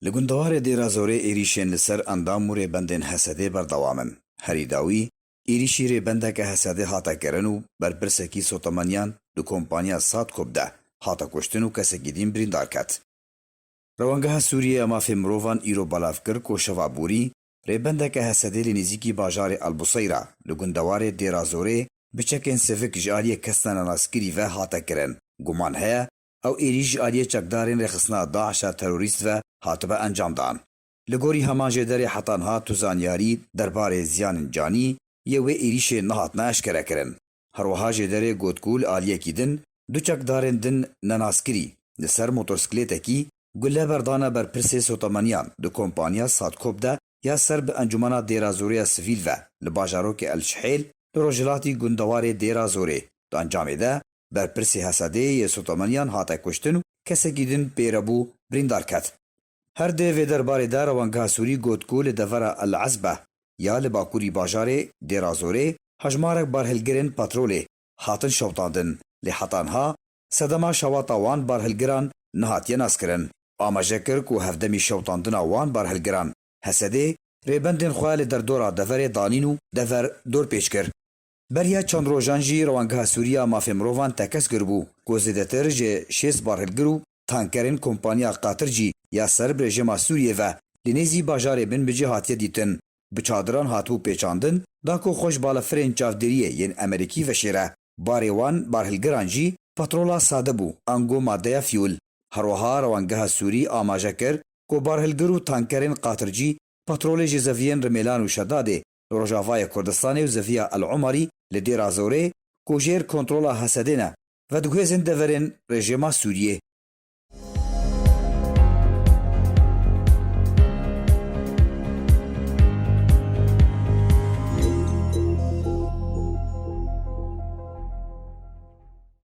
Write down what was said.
Li gundewarê Dêrazorê êrîşên li ser endam û rêbendên Hesedê berdewam in. Herî dawî, êrîşî rêbendeke Hesedê hate kirin û berpirsekî sotemeniyan di kompaniya Sadkop de hate kuştin û kesekî dîn birîndar ket. Rewangeha Sûriyê ya Mafê Mirovan îro belav kir ku şeva borî, rêbendeke Hesedê li nêzîkî bajarê Elbuseyra li gundewarê Dêrazorê bi çekên sivik ji aliyê kesina nenastkirî ve hate kirin, guman heye Ew êrîş ji aliyê çekdarên rêxistina DAIŞ a terorîst ve hatibe encamdan. Li gorî heman jê derê heta niha tu zanyarî derbarê ziyanên canî yê wê êrîşê nehatine eşkerekirin. Herwiha jê derê got ku li aliyekî din du çekdarên din nenaskirî li ser motorsklêtekî gule berdane ber pirsê sotemeniyan di kompaniya Sadkop de ya ser bi Encumena Dêrazorê ya Sivîl ve li bajarokê El Şihêl li rojhilatî gundewarê Dêrazorê. Di encamê de berpirsê Hesedê yê Sotemeniyan hate kuştin û kesekî din pê re bû birîndar ket. Her di vê derbarê de rewangeha Sûrî got ku li devera El Ezbe ya li bakurî bajarê Dêrazorê hejmarek barhilgirên petrolê hatin şewitandin lê heta niha sedema şewata wan barhilgiran nehatiye naskirin. Amaje kir ku hevdemî şewitandina wan barhilgiran Hesedê rêbendên xwe li derdora deverê danîn û dever dorpêç kir. Beriya çend rojan jî Rewangeha Sûrî ya Mafê Mirovan tekez kiribû ku zêdetir ji şêst barhilgir û tankerên kompaniya Qatir jî ya ser bi rejima Sûriyê ve li nêzî bajarê Binbicê hatiye dîtin bi çadiran hatibû pêçandin da ku xwe ji balafirên çavdêriyê yên Emerîkî veşêre. Barê wan barhilgiran jî petrola sade bû ango madeya fîûl. Herweha Rewangeha Sûrî amaje kir ku barhilgir û tankerên Qatir cî petrolê jê zeviyên Rimêlan û Şedadê li rojavayê Kurdistanê û Zeviya El Omarî li Dêra Zorê ku jêr kontrola Hesedê ne, vedigihêzin deverên rejîma Sûriyê.